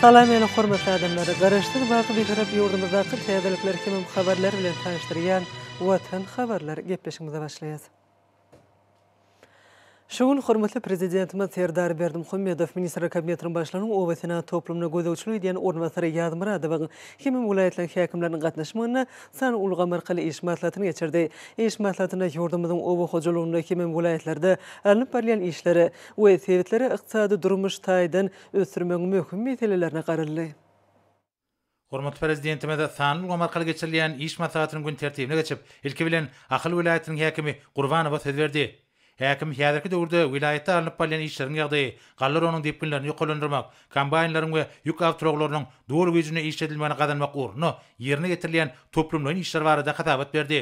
Salam ýene hormatly adamlar! Garaşsyz Baky Bitarap ýurdumyzdaky täzelikler hemem habarlar bilen tanyşdyrýan Watan habarlar gepleşigimize başlaýas. Şu gün hormatly Prezidentimiz Serdar Berdimuhamedow Ministrler Kabinetiniň Başlygynyň obasenagat toplumyna gözegçilik edýän orunbasary Ýazmyradowyň hemem welaýatlaryň häkimleriniň gatnaşmagynda san ulgamy arkaly iş maslahatyny geçirdi. Iş maslahatynda ýurdumyzyň oba hojalygynda hemem welaýatlarda alnyp barylýan işleri we sebitlere ykdysady-durmuş taýdan ösdürmegiň möhüm meselelerine garaldy. Hormatly Prezidentimiz sanly ulgam arkaly geçirilýän iş maslahatynyň gün tertibine geçip, ilki bilen, Ahal welaýatynyň häkimi Gurbanowa söz berdi. Häkim häzirki döwürde welaýatda alnyp barylýan işleriň ýagdaýy, galleraonyň depginlerini ýokarlandyrmak, kombaýnlaryň we ýük awtoulaglarynyň doly güýjünde işledilmegini gazanmak ugrunda ýerine ýetirilýän toplumlaýyn işler barada hasabat berdi.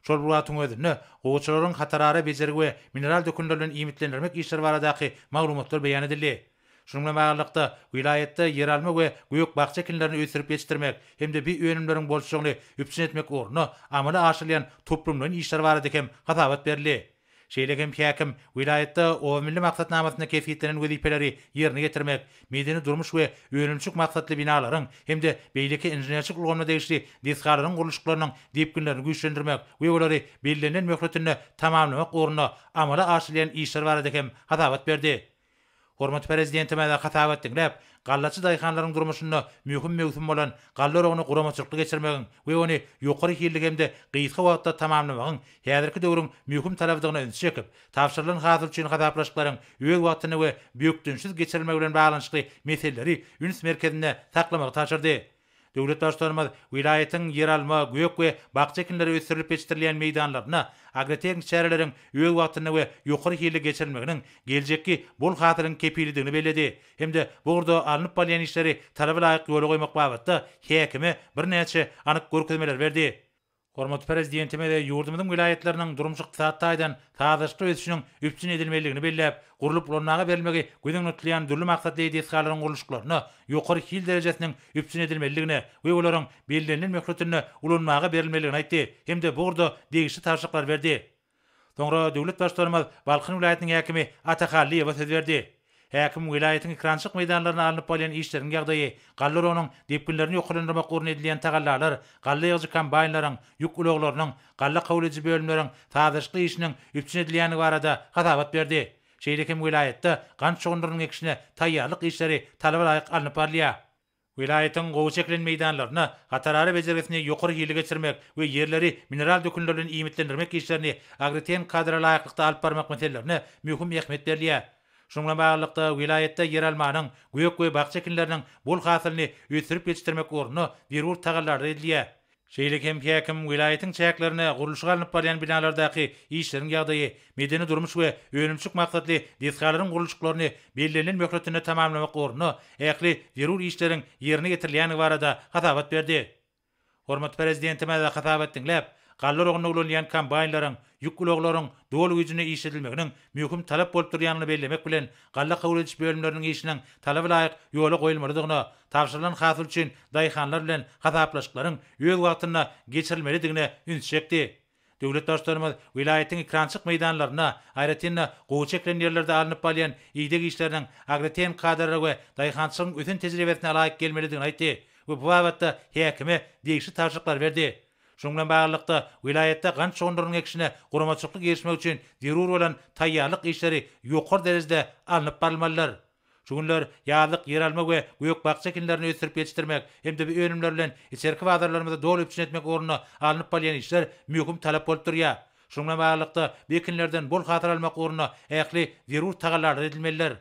Şol bir wagtyň özünde, gowaçalaryň hatarara bejergi we mineral dökünler bilen iýmitlendirmek işleri baradaky maglumatlar beýan edildi. Şunuň bilen baglylykda, welaýatda ýeralma we gök-bakja ekinlerini ösdürip ýetişdirmek hem-de bi önümleriň bolçulygyny üpjün etmek ugrunda amala aşyrylýan toplumlaýyn işler barada hem hasabat berildi. Şeýle hem häkim welaýatda obamilli maksatnamasynda kesgitlenen wezipeleri ýerine ýetirmek, medeni-durmuş we önümçilik maksatly binalaryň hem-de beýleki inženerçilik ulgamyna degişli desgalaryň gurluşyklarynyň depginlerini güýçlendirmek we olary bellenilen möhletinde tamamlamak ugrunda amala aşyrylýan işler barada hem hasabat berdi. Hormatly Prezidentimize hasap etdiňläp, gallaçy daýhanlaryň durmuşynda möhüm möwsüm bolan galla oragyny guramaçylykly geçirmegiň we ony ýokary hilli hem-de gysga wagtda tamamlamagyň häzirki döwrüň möhüm talabydygyna ünsi çekip, tabşyrylan hasyl üçin hasaplaşyklaryň öz wagtynda we bökdençsiz geçirilmegi bilen baglanyşykly meseleleri üns merkezinde saklamagy tabşyrdy. Döwlet Baştutanymyz welaýatyň ýeralma, gök we bakja ekinleri ösdürilip ýetişdirilýän meýdanlarynda agrotehniki çäreleriň öz wagtynda we ýokary hilli geçirilmeginiň geljekki bol hasylyň kepilidigini belledi hem-de bu ugurda alnyp barylýan işleri talaba laýyk ýola goýmak babatda häkime birnäçe anyk görkezmeleri berdi. Hormatly Prezidentimiz ýurdumyzyň welaýatlarynyň durmuş-ykdysady taýdan sazlaşykly ösüşiniň üpjün edilmelidigini belläp, gurlup ulanmaga berilmegi göz öňüne tutulýan dürli maksatly desgalaryň gurluşyklaryna ýokary hil derejesiniň üpjün edilmelidigine we olaryň bellenilen möhletinde ulanmaga berilmelidigini aýtdy hem-de bu ugurda degişli tabşyryklar berdi. Soňra döwlet Baştutanymyz Balkan welaýatynyň häkimi Ata Hallyýewe söz berdi. Häkim welaýatyň ekrançylyk meýdanlarynda alnyp barylýan işleriň ýagdaýy, galla oragynyň depginlerini ýokarlandyrmak ugrunda edilýän tagallalar, galla ýygyjy kombaýnlaryň, ýük ulaglarynyň, galla kabul ediji bölümleriň sazlaşykly işiniň üpjün edilýändigi barada hasabat berdi. Şeýle hem welaýatda gant şugundyrynyň ekişine taýýarlyk işleri talaba laýyk alnyp barylýar. Welaýatyň gowy çekilen meýdanlaryna hatarara bejergisini ýokary hilli geçirmek we ýerleri mineral dökünler bilen iýmitlendirmek işlerini agriten kadra laýyklykda alyp barmak meselelerine möhüm ähmiýet berilýär. Şunuň bilen baglylykda, welaýatda ýeralmanyň, gök we bakja ekinleriniň bol hasylyny ösdürip ýetişdirmek ugrunda zerur tagallalar edilýär. Şeýle hem häkim welaýatyň çäklerinde gurluşygy alnyp barýan binalardaky işleriň ýagdaýy, medeni-durmuş we önümçilik maksatly desgalaryň gurluşyklaryny bellenilen möhletinde tamamlamak ugrunda ähli zerur işleriň ýerine ýetirilýändigi barada hasabat berdi. Hormatly Prezidentimiz hasabat diňläp, galla oragynda ulanylýan kombaýnlaryň, ýük ulaglaryň doly güýjünde iş edilmeginiň möhüm talap bolup durýandygyny bellemek bilen, galla kabul ediş bölümleriniň işiniň talaba laýyk ýola goýulmalydygyna, tabşyrylan hasyl üçin daýhanlar bilen hasaplaşyklaryň öz wagtynda geçirilmelidigine üns çekdi. Döwlet Baştutanymyz welaýatyň ekrançyk meýdanlarynda, aýratyn-da, gowy çekilen ýerlerde alnyp balýan ideg işleriniň agrotehnikadara we daýhançylygyň ösen tejribesine laýyk gelmelidigini aýtdy we bu babatda häkime degişli tabşyryklary berdi. Şunuň bilen baglylykda, welaýatda gant şogunlarynyň ekişine guramaçylykly girişmek üçin zerur bolan taýýarlyk işleri ýokary derejede alnyp barylmalydyr. Şu günler ýazlyk ýeralma we gök-bakja ekinlerini ösdürip ýetişdirmek hem-de bu önümler bilen içerki bazarlarymyzy doly üpjün etmek ugrunda alnyp barylýan işler möhüm talap bolup durýar. Şunuň bilen baglylykda, bu ekinlerden bol hasyl almak ugrunda ähli zerur tagallalar edilmelidir.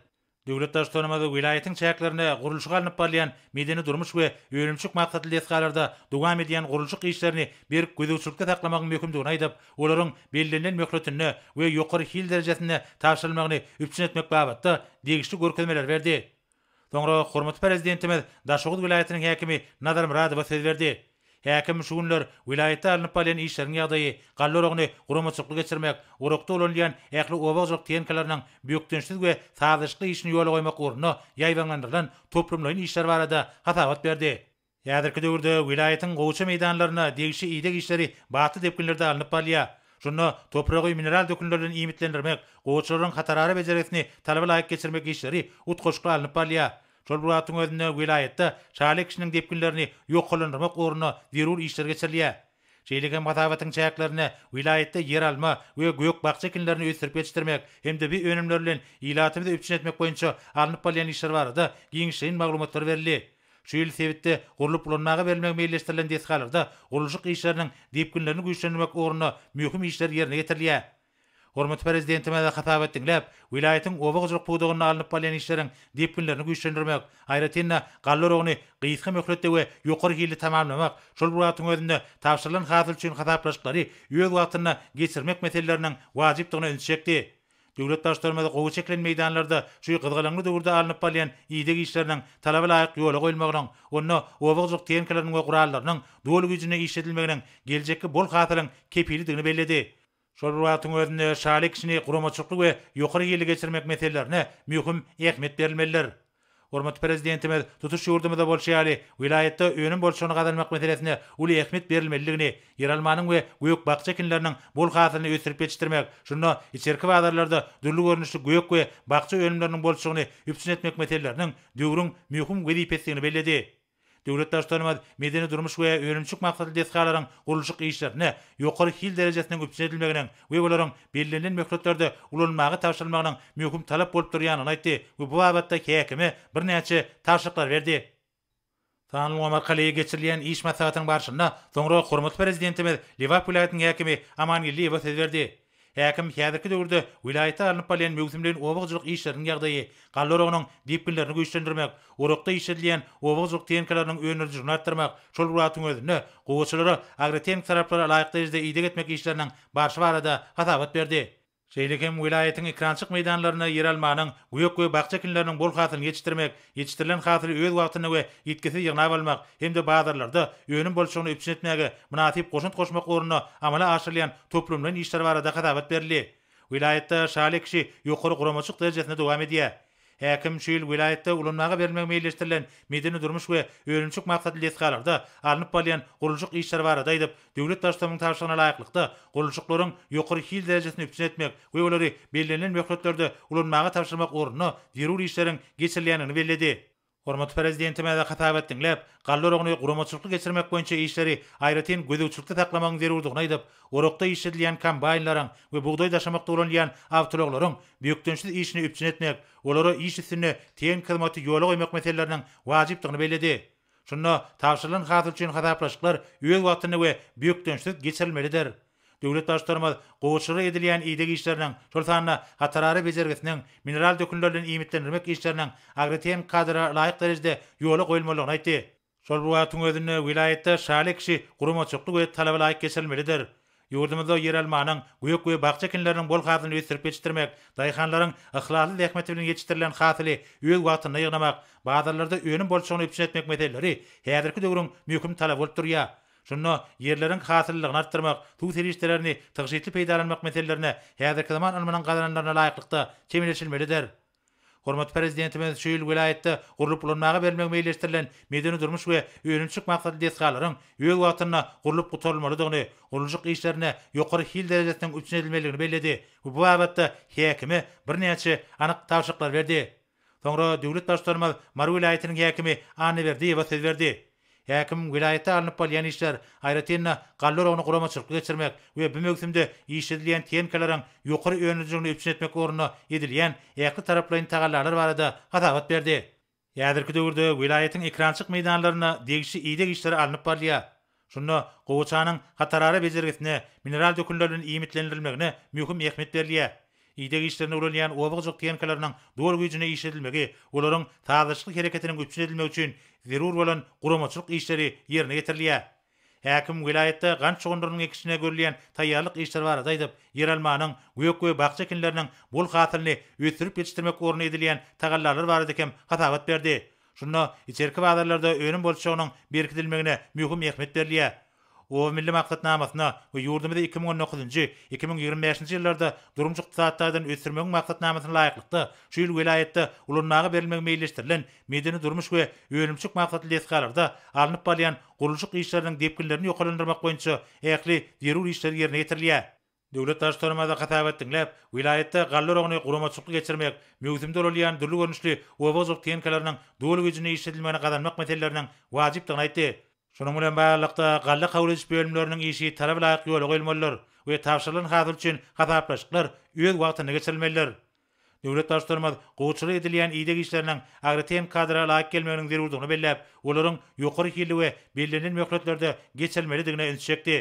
Döwlet Baştutanymyz welaýatyň çäklerinde gurluşygy alnyp barylýan medeni-durmuş we önümçilik maksatly desgalarda dowam edýän gurluşyk işlerini berk gözegçilikde saklamagyň möhümdigini aýdyp, olaryň bellenilen möhletinde we ýokary hil derejesinde tabşyrylmagyny üpjün etmek babatda degişli görkezmeleri berdi. Soňra hormatly Prezidentimiz Daşoguz welaýatynyň häkimi Nazar Myradowa söz berdi. Häkim şu günler welaýatda alnyp barlan işleriň ýagdaýy, galla oragyny guramaçylykly geçirmek, orakda ulanylýan ähli oba hojalyk tehnikalarynyň bökdençsiz we sazlaşykly işini ýola goýmak ugrunda ýaýbaňlandyrylan toplumlaýyn işler barada hasabat berdi. Häzirki döwürde welaýatyň gowaça meýdanlarynda degişli ideg işleri batly depginlerde alnyp barylýar. Şunda topragy mineral dökünler bilen iýmitlendirmek, gowaçalaryň hatarara bejergisini talaba laýyk geçirmek işleri utgaşykly alnyp barylýar. Şol bir wagtyň özünde welaýatda şaly ekişiniň depginlerini ýokarlandyrmak ugrunda zerur işler geçirilýär. Şeýle hem hasabatyň çäklerinde welaýatda ýeralma we gök-bakja ekinlerini ösdürip ýetişdirmek hem-de bu önümler bilen ilatymyzy üpjün etmek boýunça alnyp barylýan işler barada giňişleýin maglumatlar berildi. Şu ýyl sebitde gurlup ulanmaga berilmegi meýilleşdirilen desgalarda gurluşyk işleriniň depginlerini güýçlendirmek ugrunda möhüm işler ýerine getirilýär. Hormatly Prezidentimize hasabat diňläp, welaýatyň oba hojalyk pudagynda alnyp barylýan işleriň depginlerini güýçlendirmek, aýratyn-da, galla oragyny gysga möhletde we ýokary hilli tamamlamak, şol bir wagtyň özünde tabşyrylan hasyl üçin hasaplaşyklary öz wagtynda geçirmek meseleleriniň wajypdygyna ünsi çekdi. Döwlet Baştutanymyz gowy çekilen meýdanlarda şu gyzgalaňly döwürde alnyp barylýan ideg işleriniň talaba laýyk ýola goýulmagynyň, onda oba hojalyk tehnikalarynyň we gurallarynyň doly güýjünde işledilmeginiň geljekki bol hasylyň kepilidigini belledi. Şol bir wagtyň özünde şaly ekişini guramaçylykly we ýokary hilli geçirmek meselelerine möhüm ähmiýet berilmelidir. Hormatly Prezidentimiz tutuş ýurdumyzda bolşy ýaly, welaýatda önüm bolçulygyny gazanmak meselesine uly ähmiýet berilmelidigini, ýeralmanyň we gök-bakja ekinleriniň bol hasylyny ösdürip ýetişdirmek, şunda içerki bazarlarda dürli görnüşli gök we bakja önümleriniň bolçulygyny üpjün etmek meseleleriniň döwrüň möhüm wezipesidigini belledi. Döwlet Baştutanymyz medeni-durmuş we önümçilik maksatly desgalaryň gurluşyk işlerine ýokary hil derejesiniň üpjün edilmeginiň we olaryň bellenilen möhletlerde ulanylmaga tabşyrylmagynyň möhüm talap bolup durýandygyny aýtdy we bu babatda häkime birnäçe tabşyryklary berdi. Sanly ulgam arkaly geçirilýän iş maslahatynyň barşynda soňra hormatly Prezidentimiz Lebap welaýatynyň häkimi Aman Geldiýewe söz berdi. Häkim häzirki döwürde welaýatda alnyp barylýan möwsümleýin oba hojalyk işleriniň ýagdaýy, galla oragynyň depginlerini güýçlendirmek, orakda işledilýän oba hojalyk tehnikalarynyň önerijiligini artdyrmak, şol bir wagtyň özünde gowaçalara agrotehniki talaplara laýyk derejede ideg etmek işleriniň barşy barada hasabat berdi. Şeýle hem welaýatyň ekrançyk meýdanlarynda ýeralmanyň, gök we bakja ekinleriniň bol hasylyny ýetişdirmek, Ýetişdirilen hasyly öz wagtynda we ýitgisiz ýygnap almak hem-de bazarlarda önüm bolçulygyny üpjün etmäge mynasyp goşant goşmak ugrunda amala aşyrylýan toplumlaýyn işler barada hasabat berildi. Welaýatda şaly ekişi ýokary guramaçylyk derejesinde dowam edýär. Häkim şu ýyl welaýatda ulanmaga berilmegi meýilleşdirilen medeni-durmuş we önümçilik maksatly desgalarda alnyp barylýan gurluşyk işleri barada aýdyp, Döwlet Baştutanynyň tabşyrygyna laýyklykda, gurluşyklaryň ýokary hil derejesini üpjün etmek we olary bellenilen möhletlerde ulanmaga tabşyrmak ugrunda zerur işleriň geçirilýändigini belledi. Hormatly Prezidentimize hasabat diňläp, galla oragyny guramaçylykly geçirmek boýunça işleri aýratyn gözegçilikde saklamagyň zerurdygyny aýdyp, orakda işledilýän kombaýnlaryň we bugdaý daşamakda ulanylýan awtoulaglaryň bökdençsiz işini üpjün etmek, olara iş üstünde tehnik hyzmaty ýola goýmak meseleleriniň wajypdygyny belledi. Şunda tabşyrylan hasyl üçin hasaplaşyklar öz wagtynda we bökdençsiz geçirilmelidir. Döwlet Baştutanymyz gowaçylara edilýän ideg işleriniň, şol sanda hatarara bejergisiniň, mineral dökünler bilen iýmitlendirmek işleriniň agrotehniki kadrlara laýyk derejede ýola goýulmalydygyny aýtdy. Şol bir wagtyň özünde welaýatda şaly ekişi guramaçylykly we talaba laýyk geçirilmelidir. Ýurdumyzda ýeralmanyň, gök we bakja ekinleriniň bol hasylyny ösdürip ýetişdirmek, daýhanlaryň yhlasly zähmeti bilen ýetişdirilen hasyly öz wagtynda ýygnamak, bazarlarda önüm bolçulygyny üpjün etmek meseleleri häzirki döwrüň möhüm talaby bolup durýar. Şunda ýerleriň hasyllylygyny artdyrmak, suw serişdelerini tygşytly peýdalanmak meselelerine häzirki zaman ylmynyň gazananlaryna laýyklykda çemeleşilmelidir. Hormatly Prezidentimiz şu ýyl welaýatda gurlup ulanmaga bermegi meýilleşdirilen medeni-durmuş we önümçilik maksatly desgalaryň öz wagtynda gurlup gutarylmalydygyny, gurluşyk işlerine ýokary hil derejesiniň üpjün edilmelidigini belledi we bu babatda häkime birnäçe anyk tabşyryklar berdi. Soňra döwlet Baştutanymyz Mary welaýatynyň häkimi Annaberdiýewa söz berdi. Häkim welaýatda alnyp balýan işler, aýratyn-da, galla oragyny guramaçylykly geçirmek we bu möwsümde işledilýän tehnikalaryň ýokary önümliligini üpjün etmek ugrunda edilýän ähli taraplaýyn tagallalar barada hasabat berdi. Häzirki döwürde welaýatyň ekrançyk meýdanlarynda degişli ideg işleri alnyp barylýar. Şunda gowaçanyň hatarara bejergisine, mineral dökünler bilen iýmitlendirilmegine möhüm ähmiýet berilýär. Ideg işlerine ulanýan oba-gyjyk tehnikalarynyň doly güýjünde işledilmegi, olaryň sazlaşykly hereketiniň üpjün edilmegi üçin zerur bolan guramaçylyk işleri ýerine ýetirilýär. Häkim welaýatda gant şugundyrynyň ekişine görülýän taýýarlyk işleri barada aýdyp, ýeralmanyň, gök we bakja ekinleriniň bol hasylyny ösdürip ýetişdirmek ugrunda edilýän tagallalar barada hem hasabat berdi. Şunda içerki bazarlarda önüm bolçulygynyň berkidilmegine möhüm ähmiýet berilýär. Oba milli maksatnamasyna we ýurdumyzy iki müň on dokuzynjy, iki müň ýigrimi bäşinji ýyllarda durmuş-ykdysady taýdan ösdürmegiň maksatnamasyna laýyklykda, şu ýyl welaýatda ulanmaga berilmegi meýilleşdirilen medeni-durmuş we önümçilik maksatly desgalarda alnyp barylýan gurluşyk işleriniň depginlerini ýokarlandyrmak boýunça ähli zerur işler ýerine ýetirilýär. Döwlet Baştutanymyza hasabat diňläp, welaýatda galla oragyny guramaçylykly geçirmek, möwsümde ulalýan dürli görnüşli oba hojalyk tehnikalarynyň doly güýjünde işledilmegini gazanmak meseleleriniň wajypdygyny aýtdy. Şunuň bilen baglylykda, galla kabul ediş bölümleriniň işi talaba laýyk ýola goýulmalydyr we tabşyrylan hasyl üçin hasaplaşyklar öz wagtynda geçirilmelidir. Döwlet Baştutanymyz gowuçylyk edilýän ideg işleriniň agrotehnikadara laýyk gelmeginiň zerurdygyny belläp, olaryň ýokary hilli we bellenilen möhletlerde geçirilmelidigine üns çekdi.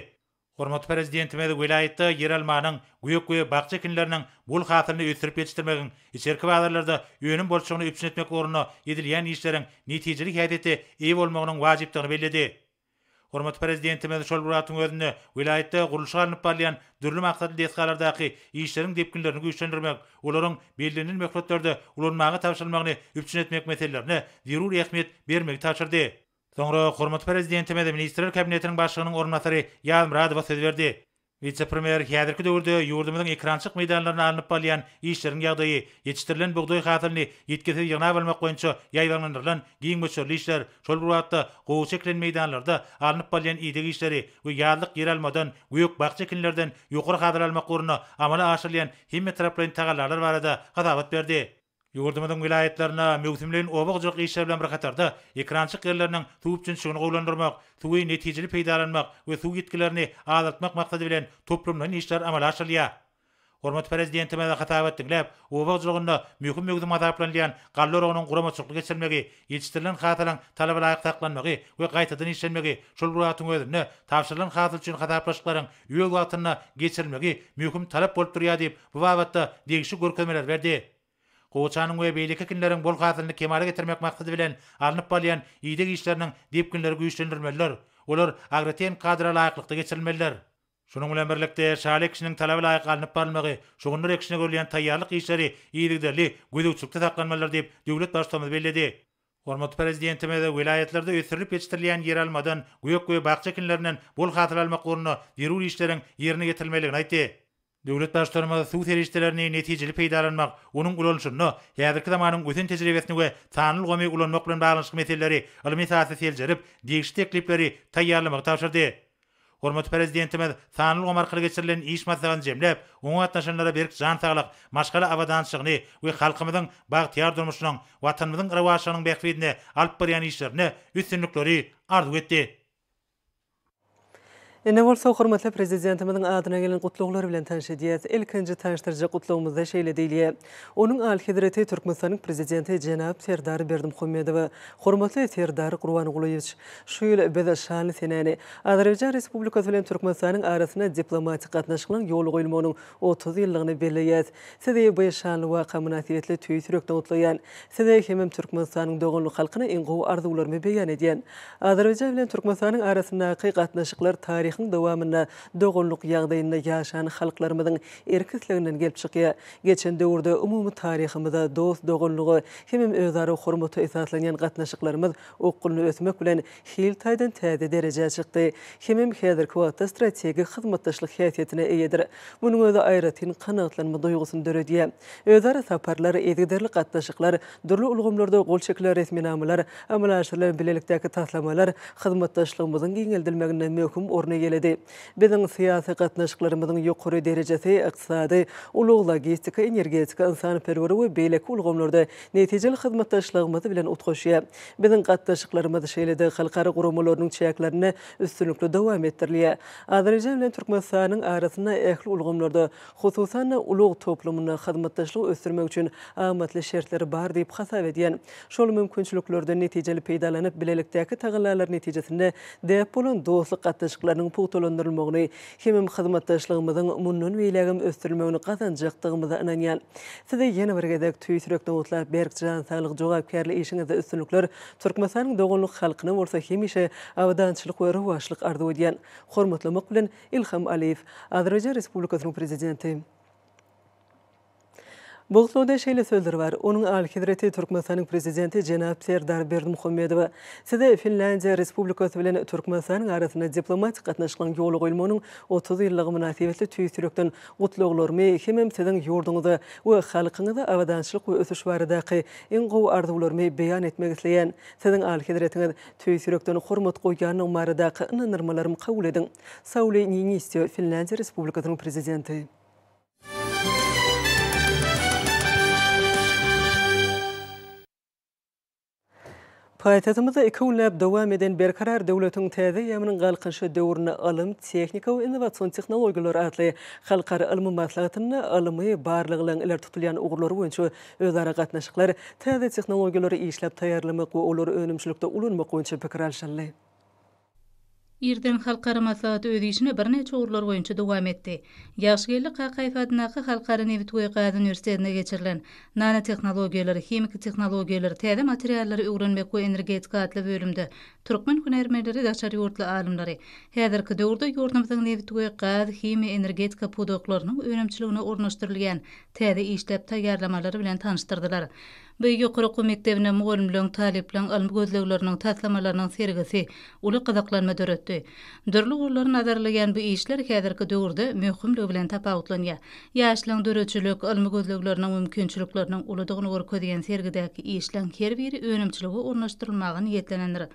Hormatly Prezidentimiz welaýatda ýeralmanyň, gök we bakja ekinleriniň bol hasylyny ösdürip ýetişdirmegiň, içerki bazarlarda önüm bolçulygyny üpjün etmek ugrunda edilýän işleriň netijeli häsiýete eýe bolmagynyň wajypdygyny belledi. Hormatly Prezidentimiz şol bir wagtyň özünde welaýatda gurluşygy alnyp barylýan dürli maksatly desgalardaky işleriň depginlerini güýçlendirmek, olaryň bellenilen möhletlerde ulanmaga tabşyrylmagyny üpjün etmek meselelerine zerur ähmiýet bermegi tabşyrdy. Soňra hormatly Prezidentimiz Ministrler Kabinetiniň Başlygynyň orunbasary Ýazmyradowa söz berdi. Wise-premýer häzirki döwürde ýurdumyzyň ekrançylyk meýdanlarynda alnyp balýan işleriň ýagdaýy, ýetişdirilen bugdaý hasylyny ýitgisiz ýygnap almak boýunça ýaýbaňlandyrylan giň möçberli işler, şol bir wagtda gowy çekilen meýdanlarda alnyp balýan ideg işleri we ýazlyk ýeralmadan, gök-bakja ekinlerden ýokary hasyl almak ugrunda amala aşyrylýan hemmetaraplaýyn tagallalar barada hasabat berdi. Ýurdumyzyň welaýatlarynda möwsümleýin oba-hojalyk işleri bilen bir hatarda, ekerançylyk ýerleriniň suw üpjünçiligini gowulandyrmak, suwy netijeli peýdalanmak we suw ýitgilerini azaltmak maksady bilen toplumlaýyn işler amala aşyrylýar. Hormatly Prezidentimiz hasabat diňläp, oba hojalygynda möhüm möwsüm hasaplanylýan galla oragynyň guramaçylykly geçirilmegi, ýetişdirilen hasylyň talabalaýyk saklanmagy we gaýtadan işlenmegi, şol bir wagtyň özünde tabşyrylan hasyl üçin hasaplaşyklaryň öz wagtynda geçirilmegi möhüm talap bolup durýar diýip, bu babatda degişli görkezmeler berdi. Gowaçanyň we beýleki ekinleriň bol hasylyny kemala getirmek maksady bilen alnyp barylýan ideg işleriniň depginleri güýçlendirilmelidir, olar agrotehniki kadra laýyklykda geçirilmelidir. Şunuň bilen birlikde, şaly ekişiniň talaba laýyk alnyp barylmagy, şugundyr ekişine görülýän taýýarlyk işleri yzygiderli gözegçilikde saklanmalydyr diýip, döwlet Baştutanymyz belledi. Hormatly Prezidentimiz welaýatlarda ösdürilip ýetişdirilýän ýeralmadan, gök we bakja ekinlerinden bol hasyl almak ugrunda zerur işleriň ýerine ýetirilmelidigini aýtdy. Döwlet Baştutanymyz suw serişdelerini netijeli peýdalanmak, onuň ulanyşynda häzirki zamanyň ösen tejribesini we sanly ulgamy ulanmak bilen baglanyşykly meseleleri ylmy esasda seljerip, degişli teklipleri taýýarlamagy tabşyrdy. Hormatly Prezidentimiz sanly ulgam arkaly geçirilen iş maslahatyny jemläp, oňa gatnaşanlara berk jan saglyk, maşgala abadançylygyny we halkymyzyň bagtyýar durmuşynyň, Watanymyzyň rowaçlygynyň bähbidine alyp barýan işlerinde üstünlikleri arzuw etdi. Indi bolsa hormatly Prezidentimiziň adyna gelen gutlaglary bilen tanyş edýäris. Ilkinji tanyşdyrjak gutlagymyzda şeýle diýilýär, Onuň Alyhezreti Türkmenistanyň Prezidenti jenap Serdar Berdimuhamedowa, Hormatly Serdar Gurbangulyýewiç! Şu ýyl biz şanly senäni, Azerbaýjan Respublikasy bilen Türkmenistanyň arasynda diplomatik gatnaşyklaryň ýola goýulmagynyň otuz ýyllygyny belleýäs. Sizi bu şanly waka mynasybetli tüýs ýürekden gutlaýan. Size hemem Türkmenistanyň doganlyk halkyna iň gowy arzuwlarymy beýan edýän. Azerbaýjan bilen Türkmenistanyň arasyndaky gatnaşyklar taryhyň dowamynda doganlyk ýagdaýynda ýaşan halklarymyzyň erk-isleginden gelip çykýar. Geçen döwürde umumy taryhymyza, dost-doganlyga hemem özara hormata esaslanýan gatnaşyklarymyz okgunly ösmek bilen, hil taýdan täze derejä çykdy hemem häzirki wagtda strategik hyzmatdaşlyk häsiýetine eýedir. Munuň özi aýratyn kanagatlanma duýgusyny döredýär. Özara saparlar, yzygiderli gatnaşyklar, dürli ulgamlarda gol çekilen resminamalar, amala aşyrylan bilelikdäki taslamalar hyzmatdaşlygymyzyň giňeldilmeginde möhüm orun eýeledi. Biziň syýasy gatnaşyklarymyzyň ýokary derejesi ykdysady, ulag-logistika, energetika, ynsanperwer we beýleki ulgamlarda netijeli hyzmatdaşlygymyz bilen utgaşýar. Biziň gatnaşyklarymyz şeýle-de halkara guramalarynyň çäklerinde üstünlikli dowam etdirilýär. Azerbaýjan bilen Türkmenistanyň arasynda ähli ulgamlarda, hususan-da, ulag toplumynda hyzmatdaşlygy ösdürmek üçin amatly şertler bar diýip hasap edýän. Şol mümkinçiliklerden netijeli peýdalanyp, bilelikdäki tagallalary netijesinde däp bolan dostluk gatnaşyklarynyň pugtalandyrylmagyny Hemem hyzmatdaşlygymyzyň mundan beýlägem ösdürilmegini gazanjakdygymyza ynanýan. Size ýene bir gezek tüýs ýürek nowatlap berk jan saglyk jogapkärli işiňizde üstünlikler Türkmenistanyň doganlyk halkyna bolsa hemişe abadançylyk we rowaçlyk arzuw edýän. Hormatlamak bilen Ilham Aliýew, Azerbaýjan Respublikasynyň Prezidenti. Bogslawda şeýle sözler bar, Onuň Alyhezreti Türkmenistanyň Prezidenti jenap Serdar Berdimuhamedowa, Size Finlýandiýa Respublikasy bilen Türkmenistanyň arasynda diplomatik gatnaşyklaryň ýola goýulmagynyň otuz ýyllygy mynasybetli tüýs ýürekden gutlaglarymy hemem siziň ýurduňyza we halkyňyza abadançylyk we ösüş baradaky iň gowy arzuwlarymy beýan etmek isleýän. Siziň Alyhezretiňiz tüýs ýürekden hormat goýýandygymy baradaky ynandyrmalarymy kabul ediň. Sauli Niinistö, Finlýandiýa Respublikasynyň Prezidenti. Paýtagtymyzda iki günläp dowam eden Berkarar döwletiň täze eýýamynyň galkynyşy döwründe ylym, tehnika we innowasion tehnologiýalar atly halkara ylmy maslahatynda ylmy barlaglaryň ileri tutulýan ugurlary boýunça özara gatnaşyklar, täze tehnologiýalary işläp taýýarlamak we olary önümçilikde ulanmak boýunça pikir alşyldy. Irden halkara maslahaty öz işini birnäçe ugurlar boýunça dowam etdi. Ýagşygeldi Kakaýew adyndaky Halkara nebit we gaz uniwersitetinde geçirilen Nanotehnologiýalar, himiki tehnologiýalar, täze materiallary öwrenmek we energetika atly bölümde türkmen hünärmenleri daşary ýurtly alymlary häzirki döwürde ýurdumyzyň nebit we gaz, himiýa, energetika pudaklarynyň önümçiligine ornaşdyrylýan täze işläp taýýarlamalar bilen tanyşdyrdylar. Bu ýokary okuw mekdebinde mugallymlaryň, talyplaryň ylmy gözlegleriniň, taslamalarynyň sergisi uly gyzyklanma döretdi. Dürli ugurlary nazar alýan bu işler häzirki döwürde möhümligi bilen tapawutlanýar. Ýaşlaryň döredijilik, ylmy gözlegleriniň mümkinçilikleriniň uludygyny görkezýän sergidäki işleriň her biri önümçilige ornaşdyrylmaga niýetlenendir.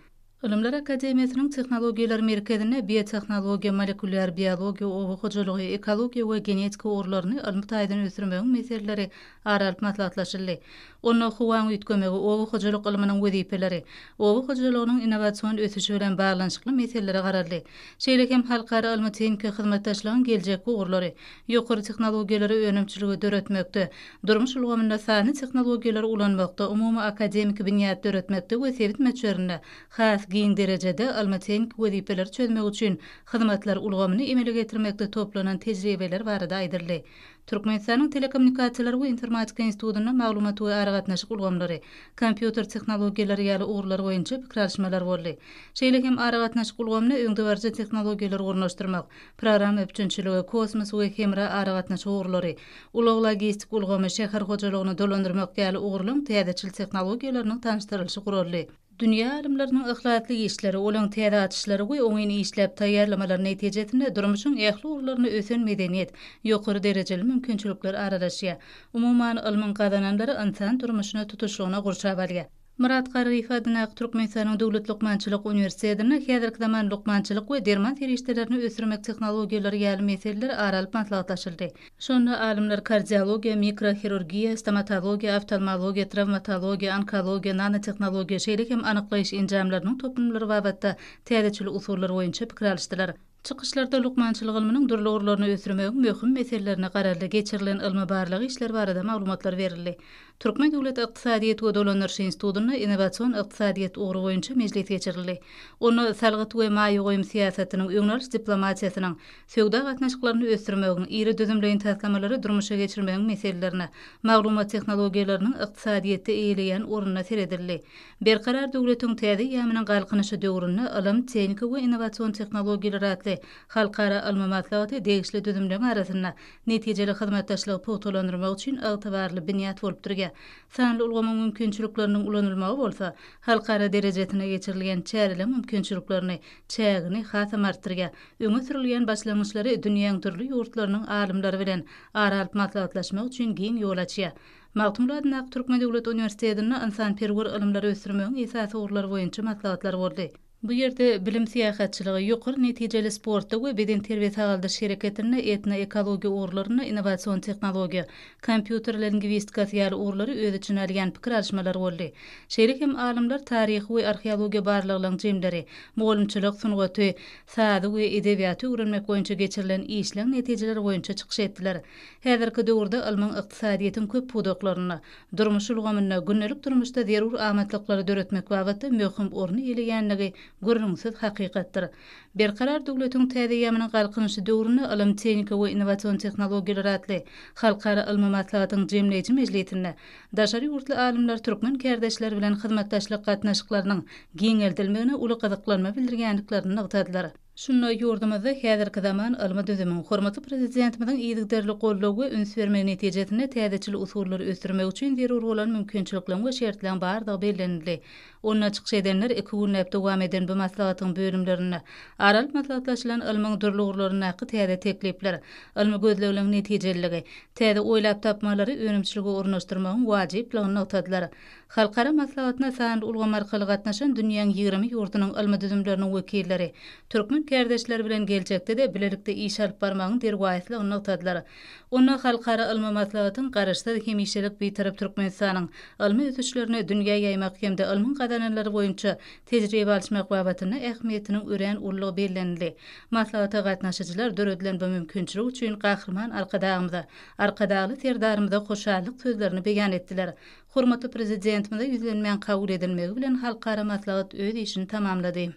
Ylymlar akademiýasynyň Tehnologiýalar merkezinde biotehnologiýa, molekulýar biologiýa, oba hojalygy, ekologiýa we genetika ugurlaryny ylmy taýdan ösdürmegiň meseleleri ara alyp maslahatlaşyldy. Onda howaň üýtgemegi, oba hojalyk ylmynyň wezipeleri, oba hojalygynyň innowasion ösüşi bilen baglanyşykly meselelere garaldy. Şeýle hem halkara ylmy-tehniki hyzmatdaşlygyň geljekki ugurlary, ýokary tehnologiýalary önümçiligi döretmekde, Durmuş ulgamynda sanly tehnologiýalary ulanmakda, umumy akademiki binýat döretmekde we sebit möçberinde has giň derejede ylmy-tehniki wezipeleri çözmek üçin hyzmatlar ulgamyny emele getirmekde toplanan tejribeler barada aýdyldy. Türkmenistanyň Telekommunikasiýalar we informatika institutynda maglumat we aragatnaşyk ulgamlary, kompýuter tehnologiýalary ýaly ugurlar boýunça pikir alyşmalar boldy. Şeýle hem aragatnaşyk ulgamyna öňdebaryjy tehnologiýalary ornaşdyrmak, programma üpjünçiligi, kosmos we hemra aragatnaşyk ugurlary, Ulag-logistik ulgamy, şäher hojalygyny dolandyrmak ýaly ugurlaryň täzeçil tehnologiýalarynyň tanyşdyrylyşy guraldy. Dünýä alymlarynyň yhlasly işleri, olaryň täze açyşlary we oňyn işläp taýýarlamalary netijesinde durmuşyň ähli ugurlarynda ösen medeniýet, ýokary derejeli mümkinçilikler aralaşýar. Umuman, ylmyň gazananlary ynsan durmuşyny tutuşlygyna gurşap alýar. Myrat Garryýew adyndaky Türkmenistanyň Döwlet lukmançylyk uniwersitetinde häzirki zaman lukmançylyk we derman serişdelerini ösdürmek tehnologiýalary ýaly meseleler ara alyp maslahatlaşyldy. Şonda alymlar kardiologiýa, mikrohirurgiýa, stomatologiýa, oftalmologiýa, trawmatologiýa, onkologiýa, nanotehnologiýa, şeýle hem anyklaýyş enjamlarynyň toplumlary babatda täzeçil usullar boýunça pikir alyşdylar. Çykyşlarda lukmançylyk ylmynyň dürli ugurlaryny ösdürmegiň möhüm meselelerine garaldy, geçirilen ylmy-barlag işleri barada maglumatlar berildi. Türkmen döwlet ykdysadyýet we dolandyryş institutynda innowasion ykdysadyýet ugry boýunça mejlis geçirildi. Onda salgyt we maýa goýum syýasatynyň, öňe alyş diplomatiýasynyň, söwda gatnaşyklaryny ösdürmegiň, iri düzümleýin taslamalary durmuşa geçirmegiň meselelerine, maglumat tehnologiýalarynyň ykdysadyýetde eýeleýän ornuna seredildi. Berkarar döwletiň täze eýýamynyň Galkynyşy döwründe ylym, tehniki we innowasion tehnologiýalar atly halkara ylmy maslahaty degişli düzümleriň arasynda netijeli hyzmatdaşlygy pugtalandyrmak üçin ygtybarly binýat bolup durýar. Sanly ulgamyň mümkinçilikleriniň ulanylmagy bolsa, halkara derejesinde geçirilýän çäreleriň mümkinçiliklerini, çägini, hasam artdyrýar. Öňe sürülýän başlangyçlary dünýäň dürli ýurtlarynyň alymlary bilen ara alyp maslahatlaşmak üçin giň ýol açýar. Magtymguly adyndaky Türkmen döwlet uniwersitetinde ynsanperwer ylymlary ösdürmegiň esasy ugurlary boýunça maslahatlar boldy. Bu ýerde bilim syýahatçylygy, ýokary netijeli sportda we bedenterbiýe-sagaldyş hereketinde, etnoekologiýa ugurlarynda innowasion tehnologiýa, kompýuter lingwistikasy ýaly ugurlary öz içine alýan pikir alyşmalar boldy. Şeýle hem alymlar taryhy we arheologiýa barlaglaryň jemleri, mugallymçylyk sungaty, sazy we edebiýaty öwrenmek boýunça geçirilen işleň netijeleri boýunça çykyş etdiler. Häzirki döwürde ylmyň ykdysadyýetiň köp pudaklarynda, durmuş ulgamynda, gündelik durmuşda zerur amatlyklary döretmek babatda möhüm orun eýeleýändigi gürrüňsiz hakykatdyr. Berkarar döwletiň täze ýamynyň Galkynyşy döwründe ylym, tehnika we innowasion tehnologiýalar atly halkara ylmy maslahatyň jemleýji mejlisinde daşary ýurtly alymlar türkmen kärdeşleri bilen hyzmatdaşlyk gatnaşyklarynyň giňeldilmegine uly gyzyklanma bildirýändiklerini nygtadylar. Şunda ýurdumyzda häzirki zaman ylmy düzümiň, hormatly Prezidentimiziň yzygiderli goldaw we üns bermegi netijesinde täzeçil usullary ösdürmek üçin zerur bolan mümkinçilikleriň we şertleriň bardygy bellenildi. Onda çykyş edenler iki günläp dowam eden bu maslahatyň bölümlerinde ara alyp maslahatlaşylan ylmyň dürli ugurlaryndaky täze teklipler, ylmy gözlegleriň netijeliligi, täze oýlap tapmalary önümçilige ornaşdyrmagyň wajyplygyny nygtadylar. Halkara maslahatyna sanly ulgam arkaly gatnaşan dünýäň ýigrimi ýurdunyň ylmy düzümleriniň wekilleri türkmen kärdeşleri bilen geljekde-de bilelikde iş alyp barmagyň derwaýyslygyny nygtadylar. Onda halkara ylmy maslahatyň Garaşsyz, hemişelik Bitarap Türkmenistanyň ylmy ösüşlerini dünýä ýaýmak hem-de ylmyň gazananlary boýunça tejribe alyşmak babatynda ähmiýetiniň örän uludygy bellenildi. Maslahata gatnaşyjylar döredilen bu mümkinçilik üçin Gahryman Arkadagymyza, Arkadagly Serdarymyza hoşallyk sözlerini beýan etdiler. Hormatly Prezidentimize ýüzlenmäň kabul edilmegi bilen halkara maslahat öz işini tamamlady.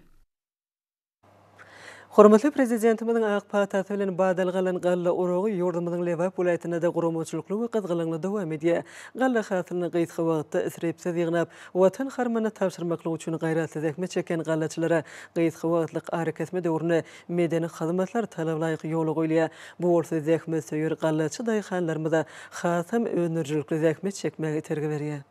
Hormatly Prezidentimiziň ak patasy bilen badalga alan galla oragy ýurdumyzyň Lebap welaýatynda-da guramaçylykly we gyzgalaňly dowam edýär. Galla hasylyny gysga wagtda isripsiz ýygnap, Watan harmanyna tabşyrmaklyk üçin gaýratly zähmet çekýän gallaçylara gysga wagtlyk arakesme döwründe Medeni hyzmatlar talablaýyk ýola goýulýar. Bu bolsa zähmetsöýer gallaçy daýhanlarymyza hasam öndürijilikli zähmet çekmäge itergi berýär.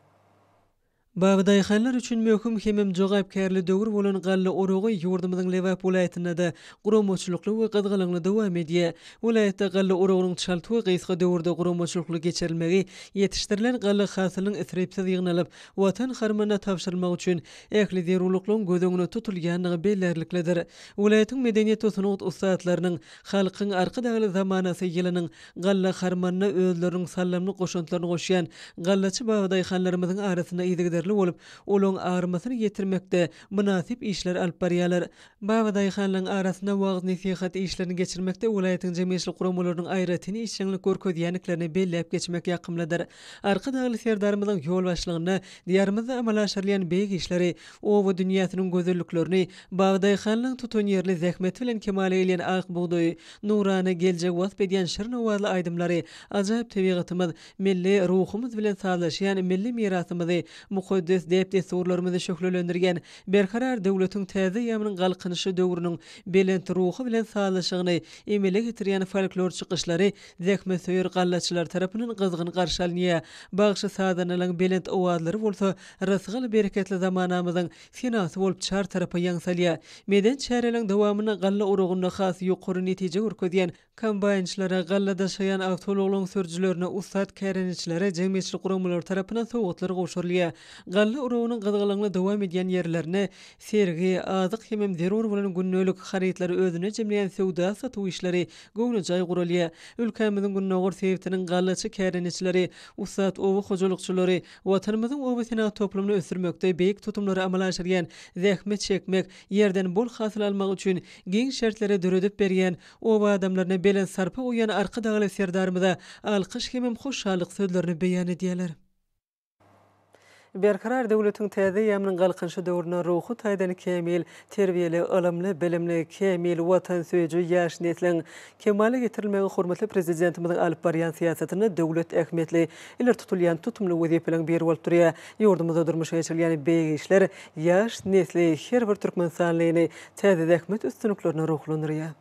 Baby daýhanlar üçin möhüm hemem jogapkärli döwür bolan galla oragy ýurdumyzyň Lebap welaýatynda-da guramaçylykly we gyzgalaňly dowam edýär. Welaýatda galla oragynyň çalt we gysga döwürde guramaçylykly geçirilmegi, ýetişdirilen galla hasylynyň isripsiz ýygnalyp, Watan harmanyna tabşyrylmagy üçin ähli zerurlyklaryň göz öňünde tutulýandygy bellärliklidir. Welaýatyň medeniýet-sungat ussatlarynyň Halkyň Arkadagly zamanasy ýylynyň galla harmanyna özleriniň saldamly goşantlaryny goşýan gallaçy babadaýhanlarymyzyň arasynda yzygiderli bolup, olaryň armasyny ýetirmekde mynasyp işleri alyp barýarlar. Babadaýhanlaryň arasynda wagyz-nesihat işlerini geçirmekde welaýatyň jemgyýetçilik guramalarynyň aýratyn işjeňlik görkezýändiklerini belläp geçmek ýakymlydyr. Arkadagly Serdarymyzyň ýolbaşçylygynda Diýarymyzda amala aşyrylýan beýik işleri, oba dünýäsiniň gözelliklerini, bag-daýhanlygyň tutanýerli zähmeti bilen kemala gelýän ak bugdaýy, nurana geljegi wasp edýän şirin owazly aýdymlary, ajaýyp tebigatymyz, milli ruhumyz bilen sazlaşýan milli mirasymyzy, mukaddes däp-dessurlarymyzy şöhlelendirýän Berkarar döwletiň täze eýýamynyň Galkynyşy döwrüniň belent ruhy bilen sazlaşygyny emele getirýän folklor çykyşlary zähmetsöýer gallaçylar tarapyndan gyzgyn garşy alynýar, bagşy-sazandalaryň belent owazlary bolsa rysgal-bereketli zamanamyzyň senasy bolup çar tarapa ýaň salýar. Medeni çäreleriň dowamynda galla urugynda has ýokary netije görkezýän kombaýnçylara, galla daşaýan awtoulaglaryň sürüjilerine, ussat kärendeçilere jemgyýetçilik guramalary tarapyndan sowgatlar gowşurylýar. Galla urugynyň gyzgalaňly dowam edýän ýerlerinde sergi, azyk hemem zerur bolan gündelik harytlary özünde jemleýän söwda-satuw işleri göwnejaý guralýar. Ülkämiziň gündogar sebitiniň gallaçy kärendeçileri, ussat oba hojalykçylary Watanymyzyň oba senagat toplumyny ösdürmekde beýik tutumlary amala aşyrýan, zähmet çekmek, ýerden bol hasyl almak üçin giň şertleri döredip berýän, oba adamlaryna belent sarpa goýýan Arkadagly Serdarymyza alkyş hemem hoşallyk sözlerini beýan edýärler. Berkarar döwletiň täze eýýamynyň Galkynyşy döwründe ruhy taýdan kämil, terbiýeli, ylymly, bilimli, kämil, watansöýüji ýaş nesliň kemala getirilmegi hormatly Prezidentimiziň alyp barýan syýasatynda döwlet ähmiýetli, ileri tutulýan tutumly wezipeleriň biri bolup durýar. Ýurdumyzda durmuşa geçirilýän beýik işler ýaş nesli, her bir türkmenistanlyny täze zähmet üstünliklerine ruhlandyrýar.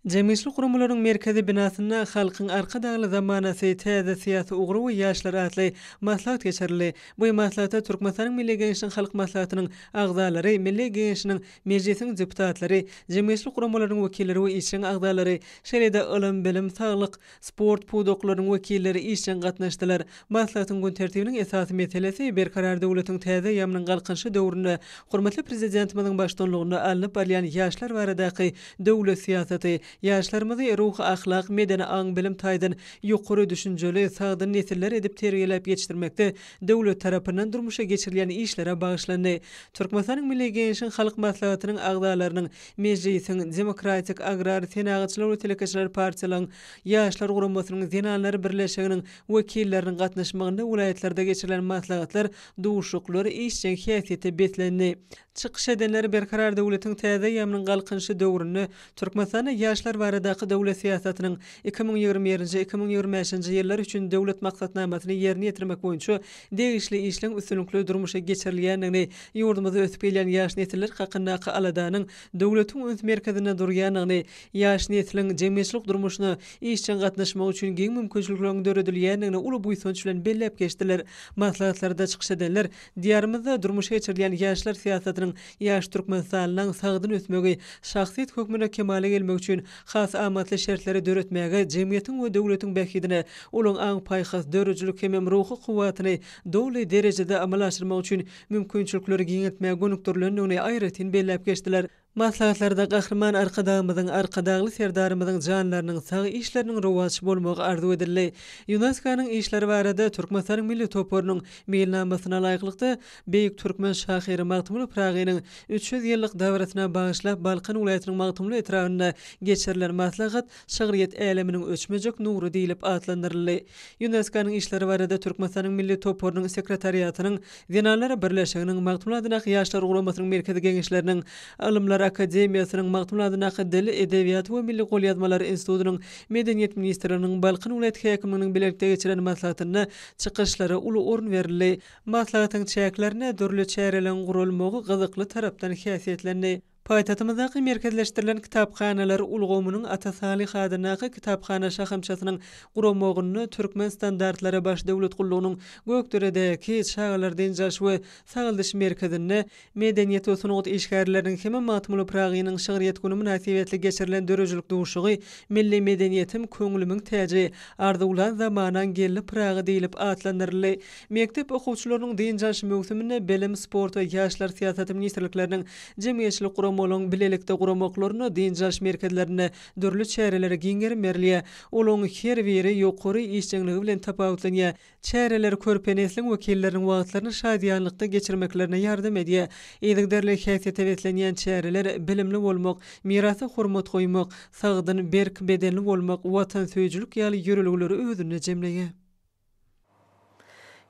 Jemgyýetçilik guramalarynyň merkezi binasynda Halkyň Arkadagly zamanasy, täze syýasy ugry we ýaşlar atly maslahat geçirildi. Bu maslahata Türkmenistanyň Milli Geňeşiniň Halk Maslahatynyň agzalary, Milli Geňeşiniň, Mejlisiň deputatlary, jemgyýetçilik guramalarynyň wekilleri we işjeň agzalary, şeýle-de ylym, bilim, saglyk, sport pudaklarynyň wekilleri işjeň gatnaşdylar. Maslahatyň gün tertibiniň esasy meselesi Berkarar döwletiň täze eýýamynyň Galkynyşy döwründe hormatly Prezidentimiziň baştutanlygynda alnyp barylýan ýaşlar baradaky döwlet syýasaty, ýaşlarymyzy ruhy-ahlak, medeni-aň-bilim taýdan ýokary düşünjeli, sagdyn nesiller edip terbiýeläp ýetişdirmekde döwlet tarapyndan durmuşa geçirilýän işlere bagyşlandy. Türkmenistanyň Milli Geňeşiň Halk Maslahatynyň agzalarynyň Mejlisiň, Demokratik, Agrar, Senagatçylar we Telekeçiler partiýalaryň, Ýaşlar guramasynyň, Zenanlar birleşiginiň wekilleriniň gatnaşmagynda welaýatlarda geçirilen maslahatlar, duşuşyklar işjeň häsiýete beslendi. Çykyş edenler Berkarar döwletiň täze eýýamynyň Galkynyşy döwründe Türkmenistanda ýaşlar baradaky döwlet syýasatynyň iki müň ýigrimi birinji, iki müň ýigrimi bäşinji ýyllar üçin Döwlet maksatnamasyny ýerine ýetirmek boýunça degişli işleň üstünlikli durmuşa geçirilýändigini, ýurdumyzda ösüp gelýän ýaş nesiller hakyndaky aladanyň döwletiň üns merkezinde durýandygyny, ýaş nesliň jemgyýetçilik durmuşyna işjeň gatnaşmagy üçin giň mümkinçilikleriň döredilýändigini uly buýsanç bilen belläp geçdiler. Maslahatlarda çykyş edenler Diýarymyzda durmuşa geçirilýän ýaşlar syýasatynyň ýaş Türkmenistanyň sagdyn ösmegi, şahsyýet hökmünde kemala gelmegi üçin Has amatly şertleri döretmäge, jemgyýetiň we döwletiň bähbidine ulag aň-paýhas, döredijilik hemem ruhy kuwwatyny doly derejede amala aşyrmak üçin mümkinçilikleri giňeltmäge gönükdirilendigini aýratyn belläp geçdiler. Maslahatlarda Gahryman Arkadagymyzyň, Arkadagly Serdarymyzyň janlarynyň sag, işleriniň rowaç bolmagy arzuw edildi. Ýunesko-nyň işleri barada Türkmenistanyň milli toparynyň meýilnamasyna laýyklykda, Beýik türkmen şahyry Magtymguly Pyragynyň üç ýüz ýyllyk dabarasyna bagyşlap Balkan welaýatynyň Magtymguly etrabynda geçirilen maslahat Şygryýet äleminiň öçmejek nury diýlip atlandyryldy. Ýuneskonyň işleri barada Türkmenistanyň Milli toparynyň sekretariatynyň Zenanlar birleşiginiň Magtymguly adyndaky Ýaşlar guramasynyň Merkezi Geňeşleriniň Ylymlar akademiýasynyň Magtymguly adyndaky Dil, edebiýat we milli golýazmalar institutynyň Medeniýet ministrliginiň Balkan welaýat häkimliginiň bilelikde geçiren maslahatynda çykyşlara uly orun berildi. Maslahatyň çäklerinde dürli çäreleriň guralmagy gyzykly tarapdan häsiýetlendi. Paýtagtymyzdaky merkezleşdirilen kitaphanalar ulgamynyň Ata Salyh adyndaky kitaphana şahamçasynyň guramagynda Türkmen standartlary baş döwlet gullugynyň Gökderedäki çagalar dynç alyş we sagaldyş merkezinde Medeniýet we sungat işgärleriniň hem-ä Magtymguly Pyragynyň şygryýet güni mynasybetli geçirilen döredijilik duşuşygy Milli medeniýetim, köňlümiň täji, arzuwlan zamanaň gelni Pyragy diýlip atlandyryldy. Mekdep okuwçylarynyň dynç alyş möwsüminde Bilim, sport we ýaşlar syýasaty ministrlikleriniň, jemgyýetçilik guramalaryň bilelikde guramaklarynda dynç alyş merkezlerinde dürli çärelere giň gerim berilýär. Olaryň her biri ýokary işjeňligi bilen tapawutlanýar. Çäreler körpe nesliň wekilleriniň wagtlaryny şadyýanlykda geçirmeklerine ýardam edýär. Yzygiderli häsiýete beslenýän çäreler bilimli bolmak, mirasa hormat goýmak, sagdyn, berk bedenli bolmak, watansöýüjilik ýaly ýörelgeleri özünde jemleýär.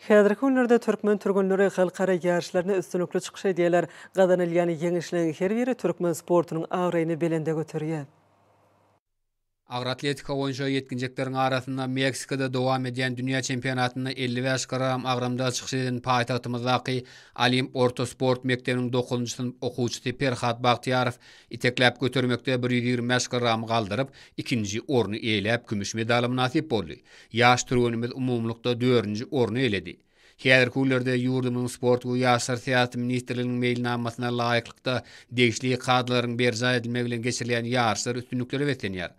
Häzirki günlerde türkmen türgenleri halkara ýaryşlarynda üstünlikli çykyş edýärler. Gazanylýan ýeňişleriň her biri türkmen sportunyň abraýyny belende göterýär. Agyr atletika boýunça ýetginjekleriň arasynda Meksikada dowam edýän dünýä çempionatynda elli bäş kg agramda çykyş eden paýtagtymyzdaky Olimp orta sport mekdebiniň dokuzynjy synp okuwçysy Perhat Bagtyýarow itekläp götermekde bir ýüz ýigrimi bäş kg galdyryp, ikinji orny eýeläp, kümüş medala mynasyp boldy. Ýaş türgenimiz umumylykda dördünji orny eýeledi. Häzirki günlerde ýurdumyzyň Sport we ýaşlar syýasaty ministrliginiň meýilnamasyna laýyklykda, degişli kadalaryň berjaý edilmegi bilen geçirilýän ýaryşlar üstünliklere beslenýär.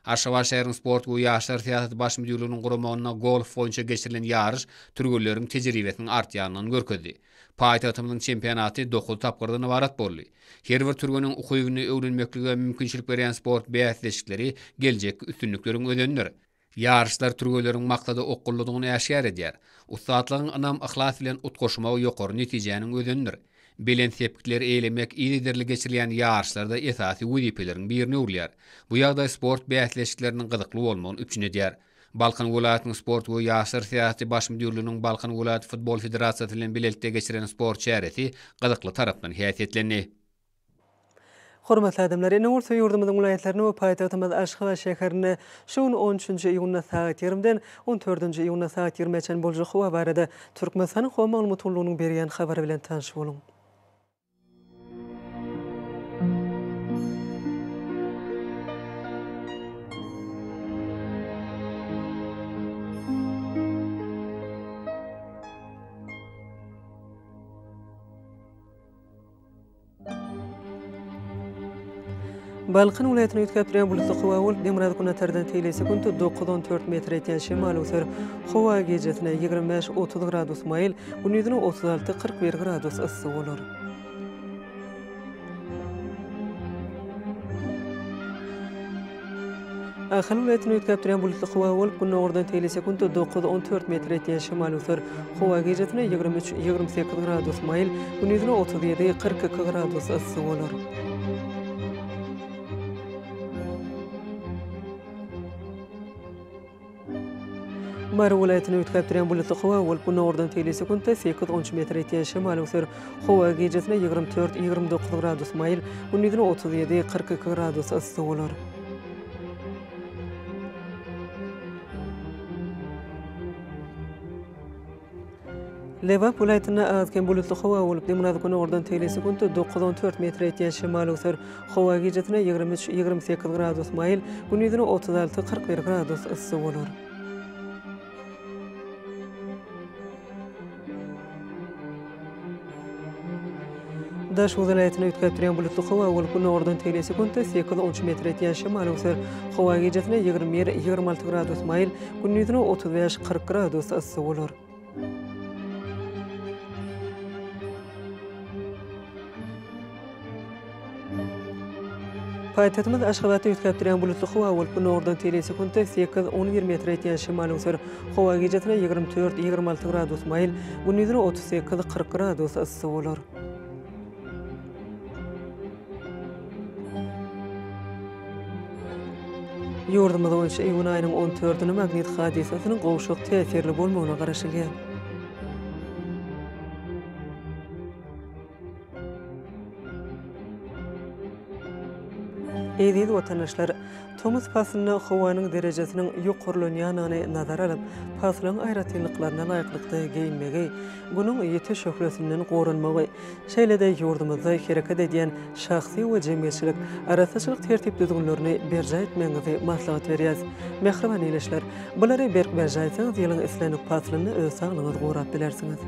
Aşgabat şäheriniň Sport we ýaşlar syýasaty baş müdirliginiň guramagynda golf boýunça geçirilen ýaryş türgenleriň tejribesiniň artýandygyny görkezdi. Paýtagtymyzyň çempionaty dokuz tapgyrdan ybarat boldy. Her bir türgeniň ukybyny öwrenmeklige mümkinçilik berýän sport bäsleşikleri geljekki üstünlikleriň özenidir. Ýaryşlar türgenleriň maksada okgunlydygyny äşgär edýär. Ussatlygyň ynam-yhlas bilen utgaşmagy ýokary netijäniň özenidir. Belent sepgitleri eýlemek yzygiderli geçirilýän ýaryşlarda esasy wezipeleriň birine öwrülýär. Bu ýagdaý sport bäsleşikleriniň gyzykly bolmagyny üpjün edýär. Balkan welaýatynyň sport we ýaşlar syýasaty baş müdirliginiň Balkan welaýat futbol federasiýasy bilen bilelikde geçiren sport çäresi gyzykly tarapdan häsiýetlendi. Hormatly adamlar! Ene gursa ýurdumyzyň welaýatlaryna we paýtagtymyz Aşgabat şäherine şu gün on üçünji iýunda sagat ýarimden on dördünji iýunda sagat ýigrimä çenli boljak howa barada Türkmenistanyň Howa maglumat gullugynyň berýän habary bilen tanyş boluň. Balkan welaýatyny üýtgäp durýan bulutly howa bolup, demirgazyk-günbatardan tegelýän sekuntda dokuz, on dört metre ýetýän şemal öwser. Howa gijesine, ýigrimi bäş, otuz gradus maýyl, gündizine otuz alty, kyrk bir gradus yssy bolar. Ahalyn welaýatyny üýtgäp durýan bulutly howa bolup, gündogardan teýle sekuntda dokuz-on dört metr etýän şemal öser. Howa gijesine ýigrimi üç, ýigrimi sekiz gradus maýyl, gündizine otuz ýedi, kyrk iki gradus yssy bolar. Mary welaýatyny üýtgäp durýan bulutly howa bolup, günordan teýli sekuntda sekiz-on üç metr ýetýän şemal öwser. Howa gijesine ýigrimi dört-ýigrimi dokuz gradus maýyl, gündizine otuz ýedi-kyrk iki gradus yssy bolar. Lebap welaýatynda az-kem bulutly howa bolup, günortan tegelýän sekuntda dokuz, on dört metre ýetýän şemal öwser. Howa gijesine ýigrimi üç, ýigrimi sekiz gradus maýyl, gündizine otuz alty, kyrk bir gradus yssy bolar. Daş Uzy welaýatyny üýtgäp durýan bulutly howa bolup, günordan tegelýän sekuntda sekiz on üç metr etýän şemal öwser. Howa gijesine ýigrimi bir, ýigrimi alty gradus maýyl, gündizine otuz bäş, kyrk gradus yssy bolar. Paýtagtymyz Aşgabatda üýtgäpdirýän bulutly howa bolup, günordan teýleýin sekuntda sekiz, on bir metre ýetýän şemal öwser. Howa gijasine ýigrimi dört, ýigrimi alty gradus maýyl, gündizine otuz sekiz, kyrk gradus yssy bolar. Ýurdumyz boýunça iýun aýynyň on dördüne magnit hadysasynyň gowşak täsirli bolmagyna garaşylýar. Eziz watandaşlar! Tomus paslynda howanyň derejesiniň ýokarlanýandygyny nazara alyp, paslyň aýratynlyklaryna laýyklykda geýinmegi, Günüň ýiti şöhlesinden goranmagy, şeýle-de ýurdumyzda hereket edýän şahsy we jemgyýetçilik arassaçylyk tertip-düzgünlerini berjaý etmegiňizi maslahat berýäs. Mähriban ildeşler! Bulary berk berjaý etseňiz, ýylyň islendik paslynda öz saglygyňyzy gorap bilersiňiz.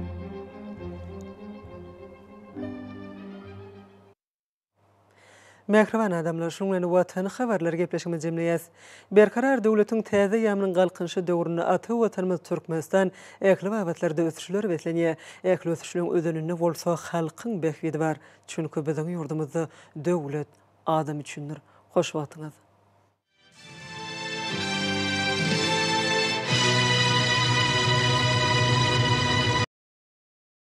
Mähriban adamlar, şunuň bilen Watan habarlary gepleşigimizi jemleýäs. Berkarar döwletiň täze eýýamynyň Galkynyşy döwründe ata Watanymyz Türkmenistan ähli babatlarda ösüşlere beslenýär. Ähli ösüşleň özeninde bolsa halkyň bähbidi bar. Çünki biziň ýurdumyzda döwlet adam üçindir. Hoş wagtyňyz!